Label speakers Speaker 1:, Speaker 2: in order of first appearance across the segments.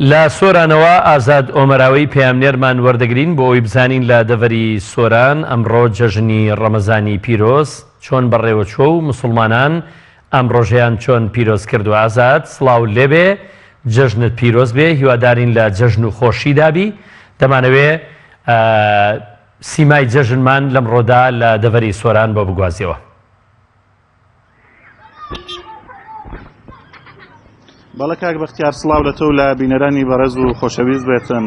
Speaker 1: لە سۆرانەوە ئازاد ئۆمەراوەی پەیامنێرمان وەردەگرین بۆ ئەوەی بزانین لە دەڤەری سۆران ئەمڕۆ جەژنی ڕەمەزانی پیرۆز چۆن بەڕێوەچووە و موسڵمانان ئەم ڕۆژەیان چۆن پیرۆز کردووە ئازاد سڵاوت لێبێ جەژنت پیرۆز بێ هیوادارین لە جەژن و خۆشیدا بی دەمانەوێ سیمای جەژنمان لەمڕۆدا لە دەڤەری سۆران بۆ بگوازیەوە.
Speaker 2: بەڵە کاک بەختیار سلااو لە تۆ لە بینەرانی بەڕێز و خۆشەویست بێتن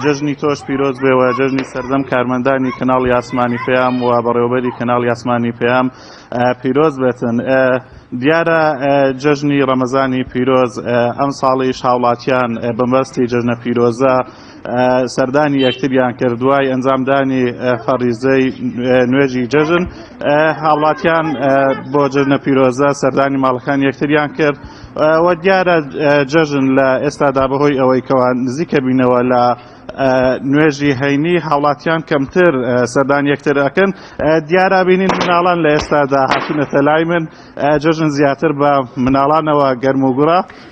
Speaker 2: جەژنی تۆش پیرۆز بێەوە جەژنی سەردەم کارمەندانی کەناڵ یاسمانی پێیام و بەڕێوبەری کەناڵ یاسمانی پێیام پیرۆز بێتن دیارە جەژنی ڕەمەزانی پیرۆز ئەم ساڵی شاوڵاتیان بەمبەستی جەژنە پیرۆزە سەردانی یەکتریان کرد دوای ئەنجامدانی فەڕیزەی نوێژی جەژن هاوڵاتیان بۆ جژنە پیرۆزە سەردانی ماڵەکان یەکتریان کرد وە دیارە جەژن لە ئێستادا بەهۆی ئەوەی کەوان نزیکە بینەوە لە نوێژی هەینی هاوڵاتیان کەمتر سەردان یەکتر ئەکەن دیارا بینین مناڵان لە ئێستادا هاتوونەتە لای من جژن زیاتر بە مناڵانەوە گەرم و گوڕە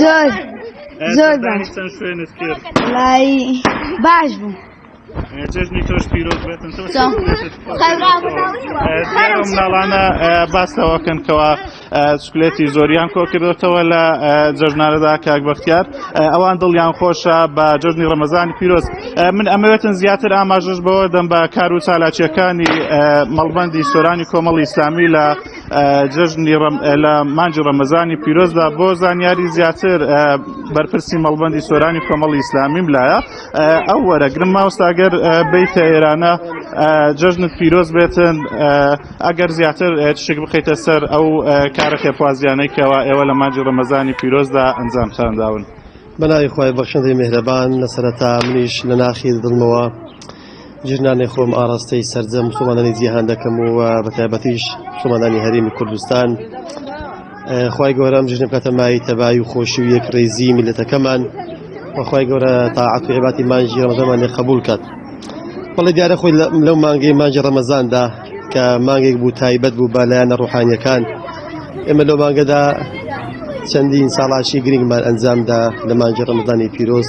Speaker 3: زۆر زۆر باش
Speaker 2: چەند شوێنت کرد لای باش بوو جەژنی تۆش پیرۆز بێتن مناڵانە باستەوەکەن کەەوە سکلێتی زۆریان کۆ کردوتەوە لە جەژنارەدا کاک بەختیار ئەوان دڵیان خۆشە بە جەژنی ڕەمەزانی پیرۆز من ئەمەوێتن زیاتر ئاماژش بەوە دەم بە کار و چالاکیەکانی مەڵبندی سۆرانی کۆمەڵی ئیسلامی لە جەژنی ڕەم لە مانجی ڕەمەزانی پیرۆزدا بۆ زانیاری زیاتر بەرپرسی مەڵبندی سۆرانی کۆمەڵی ئیسلامیم لایە ئەو وەرەگرم ماوساگەر بیتە ئێرانە جەژنت پیرۆز بێتن ئەگەر زیاتر شک بخیتە سەر ئەو کارە خێپوازیانەی کەەوە ئێوە لە مانجی ڕەمەزانی پیرۆزدا ئەنجام خانداون. بەناوی خوای
Speaker 4: بەخشندەی میهرەبان لەسەرەتا منیش لەناخی دڵمەوە ژنانی خۆم ئاراستەی سەرجەم مسوڵمانانی جیهان دەکەم و بە تایبەتیش مسوڵمانانی هەرێمی کوردستان خی گەورەم ژنە بکاتە مای تەبایی و خۆشی و یەک ڕێزی میلەتەکەمان وخوای گەورە تاعات و عباتی مانجی ڕەمەزەمان لێ قبول کات بەڵێ دیارە خۆی لەو مانگەی مانجی ڕەمەزاندا کە مانگێک بوو تایبەت بوو بە لایەنە ڕوحانیەکان ئێمە لەو مانگەدا چەندین ساڵاشی گرنگمان ئەنجامدا لە مانجی ڕەمەزانی پیرۆز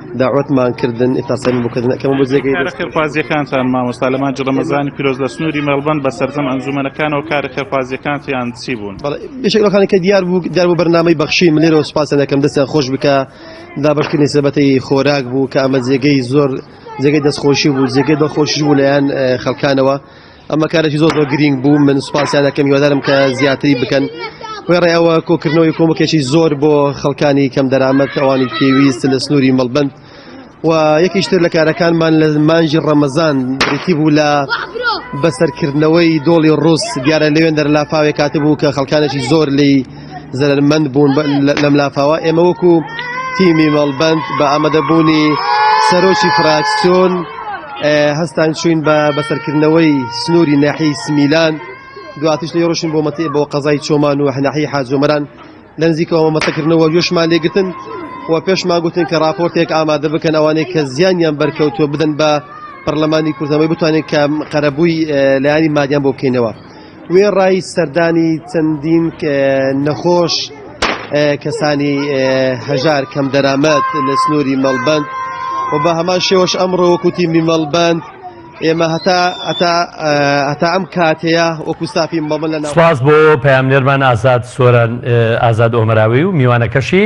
Speaker 4: داوەتمان کردن ئێستا سەیرم بۆ کردن ئەکەمەوە بۆ جێگەی کارە خێرخوازیەکانتان
Speaker 2: مامۆستا لە مانگی ڕەمەزانی پیرۆز لە سنووری مێڵبەن بە سەرجەم ئەنجومەنەکانەوە کارە خێرخوازیەکانتیان چی بوون؟ بەڵێ یەکێک لەوانەی کە دیار
Speaker 4: بوو دیار بوو بەرنامەی بەخشین من لێرەوە سوپاسیان دەکەم دەستیان خۆش بکا دابەشکردنی سەبەتەی خۆراک بوو کە ئەمە جێگەی زۆر جێگەی دەستخۆشی بوو جێگەی دڵخۆشیش بوو لەلایەن خەڵکانەوە ئەمە کارێکی زۆر زۆر گرینگ بوو من سوپاسیان دەکەم هیوادارم کە زیاتری بکەن وێڕێ ئەوە کۆکردنەوەی کۆمەکێکی زۆر بۆ خەڵکانی کەم دەرامەت ئەوانی پێویست لە سنووری مەڵبند و یەکیشتر لە کارەکانمان لە مانجی ڕەمەزان بریتی بوو لە بەسەرکردنەوەی دۆڵی ڕوس دیارە لەوێن دەرلافاوێک کاتبوو کە خەڵکانێکی زۆر لی زەرەرمەند بوون لەم لافاوە ئێمە وەکو تیمی مەڵبند بە ئامادەبوونی سەرۆکی فراکسۆن هەستان چوین بە بەسەرکردنەوەی سنووری ناحی سمیلان دواتیش لە ڕۆشن بۆ مەتی بۆ قەزای چۆمان و هەناحی حاجۆمەران لە نزیکەوە مەتەکردنەوە یۆشمان لێگرتن و پێشمان گوتن کە راپۆرتێک ئامادە بکەن ئەوانەی کە زیانیان بەرکەوتووە بدەن بە پەرلەمانی کوردەوەی بتوانێت کە قەرەبووی لایانی مادیان بۆ بکەینەوە. وێڕای سەردانی چەندین نەخۆش کەسانی هەژار کەم دەرامەت لە سنووری مەڵبەند و بە هەمان شێوەش ئەمڕۆ وەکو تیمی مەڵبەند ئێمە هەتا هەتا هەتا ئەم کاتەیە وەکو ستافی مەڵبەند لە ناو سپاس
Speaker 1: بۆ
Speaker 4: پەیامنێرمان
Speaker 1: ئازاد سۆران ئازاد ئۆمەراوی و
Speaker 4: میوانەکەشی.